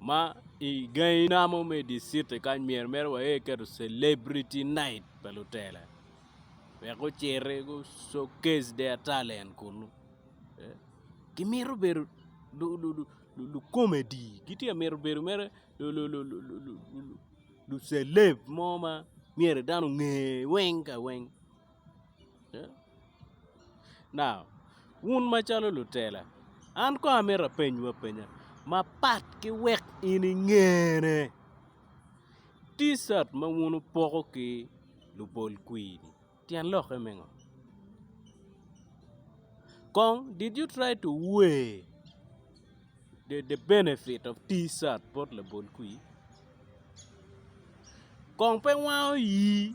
ma i gangi na mo me di city kany myero mere wa aye keto celebrity night pa lutela wek guciti gu showcase their talent kunu ki mito bedo lu comedy ki tye ka mito bedo mere lu celeb mo ma myero dano onge weng ka weng Now, wun macalo lutela, an kong amito apenywu apenya mapat ki wek in ingene. Ticat ma wun wupoko ki lupol kwiri-ni, tyen lokke me ngo? Kong did you try to weigh the benefit of Ticat bot labol kwir? Kong pe wango ii?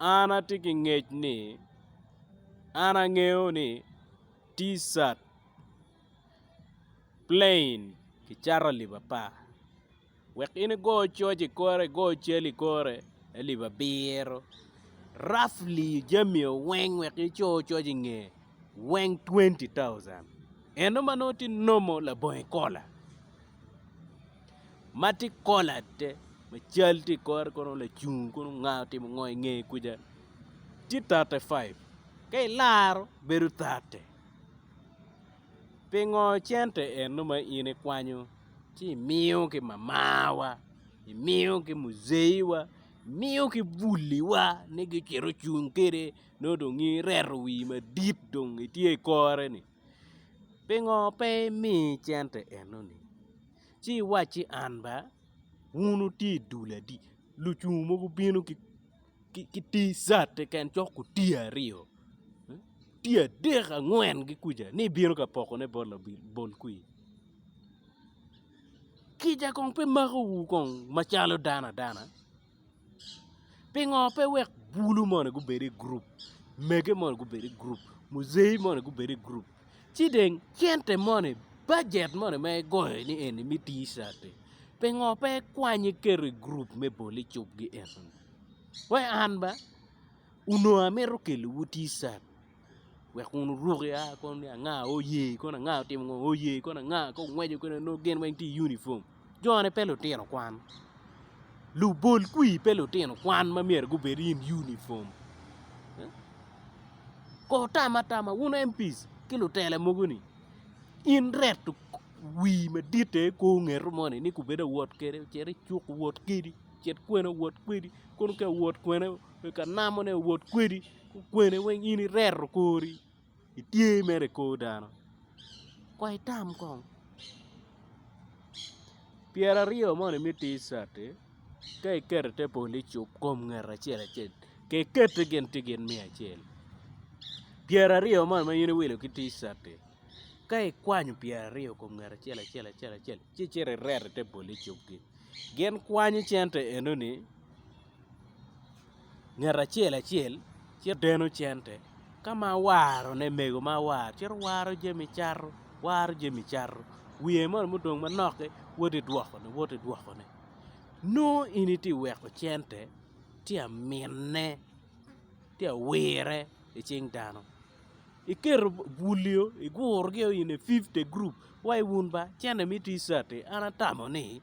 an atye ki ngec ni an angeyo ni ticat plain kicato alip apar wek in igo coc i kore igo cal i kore alip abiro rafli jami o weng wek ico coc i nge weng twenty thousand eno ma nongo tye nomo labongo ikola. ma tye kola aye ma cal tye i kore kono lacung kono nga otimo ngo i nge kuca tye tate five ka ilaro bedo tate pingo cente eno ma in ikwanyo ci imiyo ki mamawa imiyo ki muzei wa imiyo ki buli wa ni gucito cung kwede nongo dong in ireto wii madit dong itye i kore ni. Pingo pe imiyi cente enoni? Ci iwacci an ba, wun wutye i dul adi? Lucung mogo gubino ki T-shirt keken cok otii aryo, otii adek angwen ki kuca ni ibino ka pokone bot labol kwir? Kica kong pe makowu kong macalo dano adana? Pingo pe wek bulu moni gubed i gurup, mege moni gubed i gurup, muzei moni gubed i gurup, ci dong cente moni, bajet moni ma igoyo ni eni me tir cati, pingo pe ikwanyo iketo i gurup me bol i cukgi enoni? Wai an ba onongo amito kelowu tir cat. wek kun oruki a kono ni anga oye kono anga otimo ngo oye kono anga ka ongweco kene onongo gin weng tye i unifom jone pe lutino kwan lubol kwi pe lutino kwan ma myero gubed i unifom kono wutam atama wun MP-s ki lutela mogo ni in reto wii madit aye kor ongeto moni ni kubed awot kede cit icuk owot kedi cit kwena owot kwedi kono ka owot kwena ka namo ne owot kwedi. Kwene weng in ireto kori itye mere i kor dano kono itam kong pyera aryo moni me tic cati ka iketo i te polo icup kom ngat acel acel ka iketi gin tye gin me acel pyera aryo moni ma in iwilo ki tic cati ka ikwanyo pyera aryo kom ngat acel acel acel ci icito ireto i te polo icup-gi gin kwanyo cente enoni ngat acel acel cito deno cente ka ma awaro ne mego ma awaro cito waro jami cato waro jami cato wiye moni ma odong manok-ki woti dwoko ne woti dwoko ne nongo in iti weko cente ti amine ti awire i cing dano iketo bulio igurugi o in a fifte gurup wai wun ba cente ma iti cati an atamo ni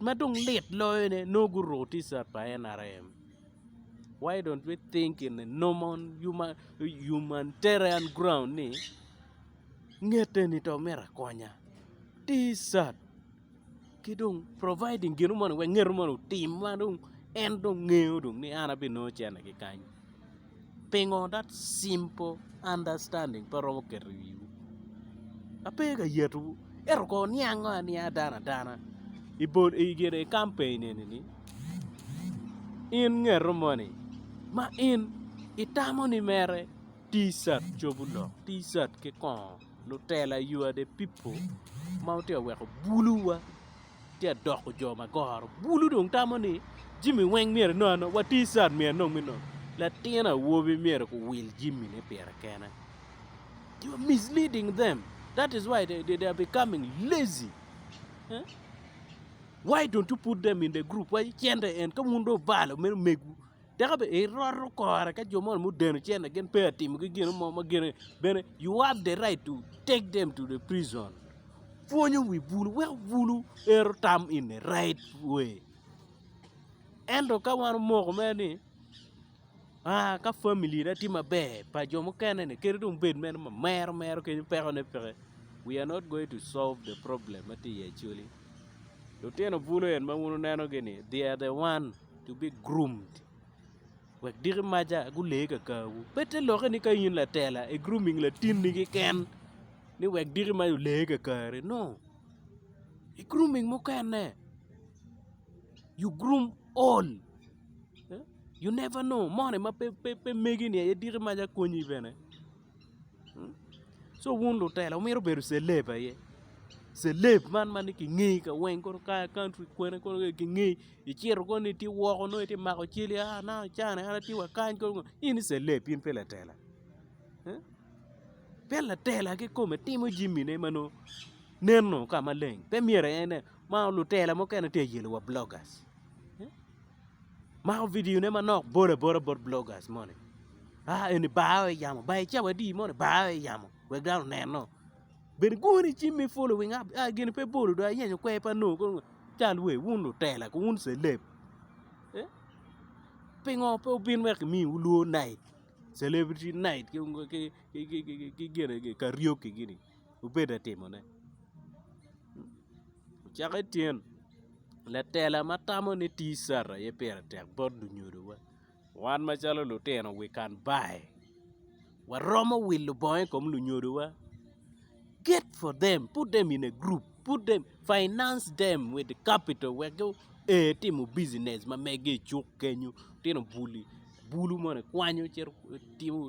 Ma dong lit loyone, nongo guruu Ticat pa NRM. Why don't we think in a normal humanitarian ground ni ngete ni to myero akonya. Ticat ki dong providing gino moni wek ngeto moni otim ma dong en dong ngeyo dong ni an abinongo cente ki kany. Pingo that simple understanding pe romo keto i wiwu? Ape ka yatowu ento kono wuniango anianga dano adana i campaign eni ni in ngeto moni ma in itamo ni mere T-shirt cobo lok T-shirt ki kongo lutela you are the people ma wutye ka weko bulu wa. Tye ka doko jo ma goro bulu dong tamo ni jimi weng myero inong anonga wa ticat myero inong me nongo latin awobi myero ku wil jimi ne pire kene you are misleading them that is why they, they, they are becoming lazy eh? why don't you put them in the group why cente en ka wun do obalo meno megu Tika bene iroto kore ka jo moni mudeno cente gin pe a timogi gino mo ma gine bene you have the right to take them to the prison pwonyo wi bulu weko bulu ero tam in the right way ento ka wan omoko mere ni aa ka family na tye maber pa jo mukene ni kadi dong bed mere ma mero mero kenyo peko ne peke we are not going to solve the problem ma tye iye actually lutino bulu en ma wun wuneno gi ni they are the one to be groomed wek diki maca gule kakawu. Pete loke ni ka in latela i grooming latinni keken ni wek diki maca ole kakari no i grooming mukene you groom all you never know moni ma pe megi ni aye diki maca konyi bene. Co wun lutela wumito bedo celeb aye celeb man ma nongo kingeyi kaweng kono ka i country kwene kono dong kingeyi icito kono ni itye woko nongo itye mako cal a an aye acan ni an atye wa kany kono ngo in i celeb in pe latela pe latela kikome timo jami ne ma nongo neno ka maleng pe myero en ma lutela mukene tye ka yelo wa bloggers. Mako video ne manok bolo abola bot bloggers moni aa eni bar o iyamo bar icawa adi moni bar o iyamo wek dano oneno bene igone cim me following up aa gin pe bolo dong ayenyo kwer pe anongo kong cal wer wun lutela ki wun celeb pingo pe wubin wek kimiwu lwongo night celebrity night ki gine karaoke gini. wubedo ka timone. Caka i tyen latela ma tamo ni TCAR aye pire tek bot lunyodowa. Wan macalo lutino wi Kanbayi waromo wilo bongo i kom lunyodowa get for them put them in a group put them finance them with the capital wek gua timo business ma mege i cuk kenyo litino buli bulu moni kwanyo cito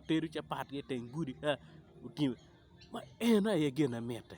tedo capat ki i teng gudi ka. ma en aye gine mitte.